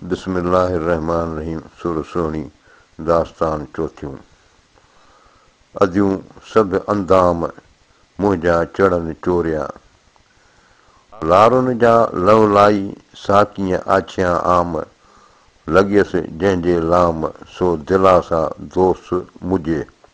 بسم الله الرحمٰن الرحيم سر سهڻي داستان چوٿيون اديون سڀ اندام منهنجا چڙن چوريا لارن جا لولائي ساقيء آڇيان عام لڳيس جنهن جي لام سو دلاسا دوست مجهي.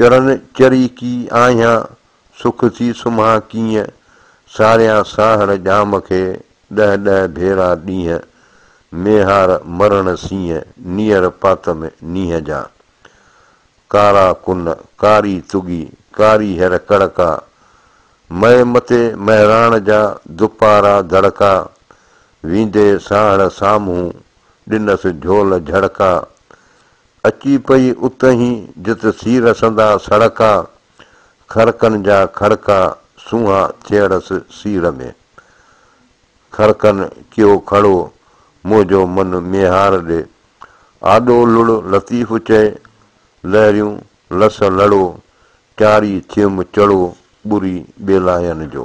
چرن چري ڪي آهيان، سک ٿي سمهان ڪيئن، ساريان ساهڙ ڄام کي، ڏهه ڏهه ڀيرا ڏينهن، ميهار مرڻ سينهن، نيئر پات ۾ نينهن جا. ڪارا ڪن، ڪاري تڳي، ڪاري هير ڪڙڪا، مئي متي مهراڻ جا، دپارا دڙڪا، ويندي ساهڙ سامهون، ڏنس جهول جهڙڪا، اچي پئي اتهين، جت سي رسندا سڙڪا، کڙڪن جا کڙڪا سونها ٿيئڙس سيڙهه ۾. کڙڪن ڪيو کڙو، منهنجو من ميهار ڏي. آڏو لڙ لطيف چئي، لهريون لس لڙو، چاڙهي ٿيم چڙو ٻري ٻيلاين جو.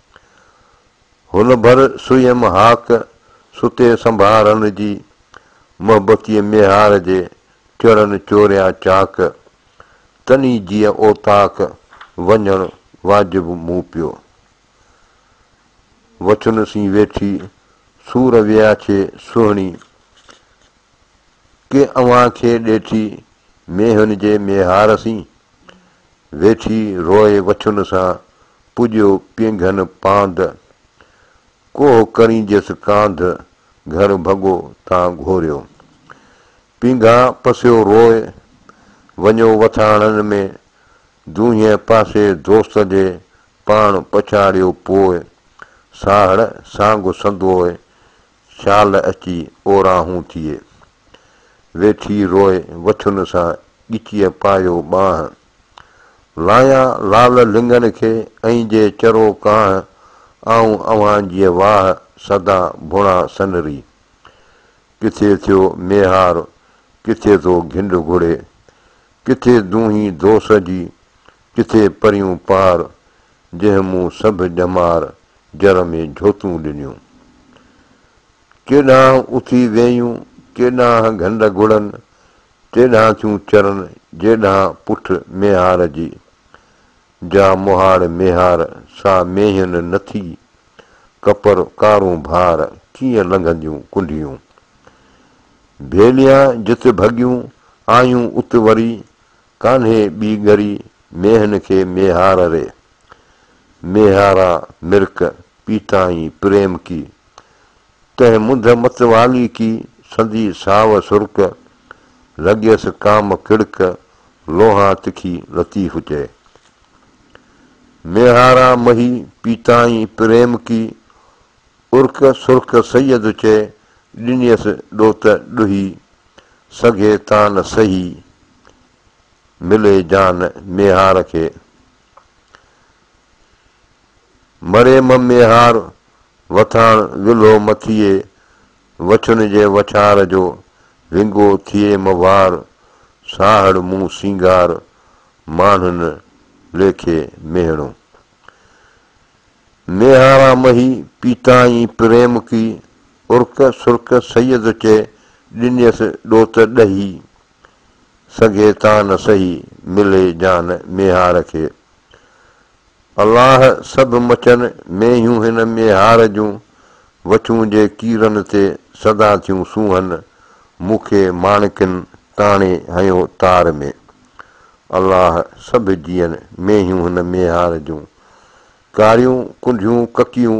هن ڀر سويم هاڪ ستي سنڀارن جي، محبتيء ميهار جي چڙن چوريا چاڪ، تني جيء اوطاق وڃڻ واجب مون پيو. وڇن سين ويٺي سور وياڇي سهڻي، ڪي اوهان کي ڏيٺي مينهن جي ميهار سين، ويٺي روئي وڇن سان پڄيو پينگهن پاند، ڪوهه ڪرينجس ڪانڌ گهر ڀڳو تان گهوريو، پينگها پسيو روئي وڃو وٿاڻن ۾ دونهين پاسي دوست جي پاڻ پڇاڙيو پوء، ساهڙ سانگ سندوئي شال اچي اوراهون ٿئي. ويٺي روئي وٿن سان ڳچيء پايو ٻانهه. لايان لال لڱن کي ۽ جي چرو ڪانه آئون اوهان جيء واهه سدا ڀڻا سنري. ڪٿي ٿيو ميهار ڪٿي ٿو گهنڊ گهڙي. ڪٿي دونهي دوس جي ڪٿي پريون پار جنهن مون سڀ ڄمار جر ۾ جهوتون ڏنيون. ڪيڏانهن اٿي ويئيون، ڪيڏانهن گهنڊ گهڙن، تيڏانهن ٿيون چرن، جيڏانهن پٺ ميهار جي. جا مهاڙ ميهار، سا مينهين نه ٿي، ڪپر ڪارون ڀار، ڪيئن لنگهنديون ڪنڍيون. ڀيليان جت ڀڳيون، آيون ات وري، ڪانهي ٻي ڳري مينهن کي ميهار ري. ميهارا مرڪ پيتائين پريم ڪي. تنهن منڌ متوالي ڪي سندي ساو سرڪ. لڳيس ڪام ڪڙڪ لونها تکي لطيف چئي. ميهارا مهي پيتائين پريم ڪي. ارڪ سرڪ سيد چئي ڏنيس ڏوت ڏوهي. سگهي تان سهي ملي جان ميهار کي. مريم ميهار وٿاڻ ولهو مٿيء، وڇن جي وڇار جو ونگو ٿئي مهوار، ساهڙ مون سينگار ماڻهن ليکي ميهڻو. ميهارا مهي پيتائين پريم ڪي، ارڪ سرڪ سيد چئي ڏنيس ڏوت ڏهي. سگهي تان سهي، ملي جان ميهار کي. الله سڀ مچن مينهيون هن ميهار جون، وڇون جي ڪيرن تي سدا ٿيون سونهن، مون کي ماڻڪن تاڻي هنيو تار ۾. الله سڀ جيئن مينهيون هن ميهار جون، ڪاريون ڪنڍيون ڪڪيون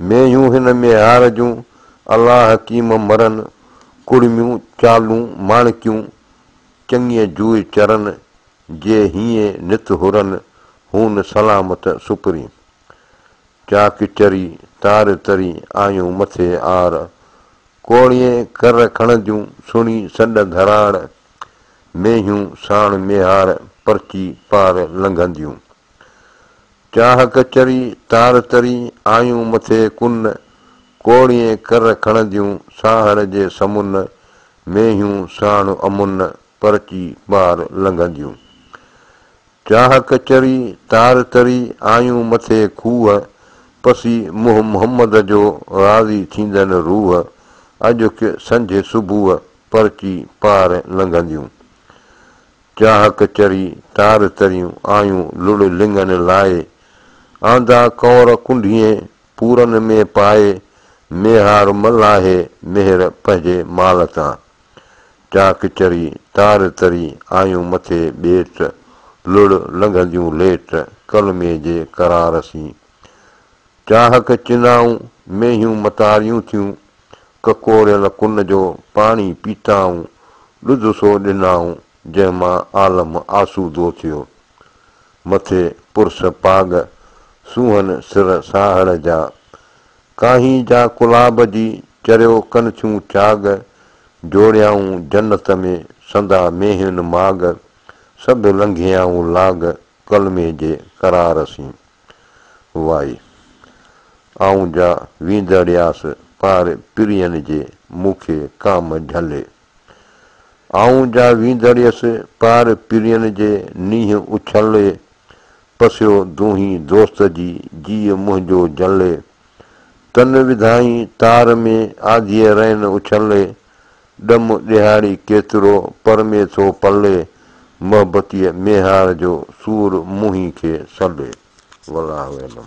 مينهيون هن ميهار جون، الله حڪيم مرن، ڪڙميون چالون ماڻڪيون، چڱيء جوئي چرن، جي هيئي نت هرن، هون سلامت سپري. چاڪ چري، تار تري، آيون مٿي آر، ڪوڙيء ڪر کڻنديون، سڻي سڏ ڌراڙ، مينهيون ساڻ ميهار، پرچي پار لنگهنديون. چاهه ڪچري تار تري آيون مٿي ڪن، ڪوڙيئين ڪر کڻنديون ساهڻ جي سمن، مينهيون ساڻ امن پرچي پار لنگهنديون. چاهه ڪچري تار تري آيون مٿي کوهه، پسي منهن محمد جو راضي ٿيندن روح، اجهڪ سنجهه صبح پرچي پار لنگهنديون. چاهڪ چري تار تريون آيون لڙ لڱن لائي. آندا ڪؤر ڪنڍين پورن ۾ پائي ميهار ملاهي مهر پنهنجي مال تان. چاهڪ چري تار تري آيون مٿي ٻيٽ لڙ لنگهنديون ليٽ ڪلمي جي قرار سين. چانهڪ چنائون، مينهيون متاريون ٿيون، ڪڪوريل ڪن جو پاڻي پيتائون، ڏڌ سو ڏنائون، جنهن مان عالم آسودو ٿيو. مٿي پرس پاڳ، سونهن سر ساهڙ جا، ڪاهي جا ڪلاب جي، چريو ڪن ٿيون چاڳ، جوڙيائون جنت ۾، سندا مينهين ماڳ، سڀ لنگهيائون لاڳ، ڪلمي جي قرار سين وائي. آئون جا ويندڙياس پار پرين جي مون کي ڪام جهلي. آئون جا ويندڙيس پار پرين جي نينهن اڇلي. پسيو دونهين دوست جي جيء منهنجو جلي. تن وڌائين تار ۾ آڌيء رئن اڇلي. ڏم ڏيهاڙي ڪيترو پر ۾ ٿو پلي، محبتيء ميهار جو سور منهين کي سلي. والله اعلم.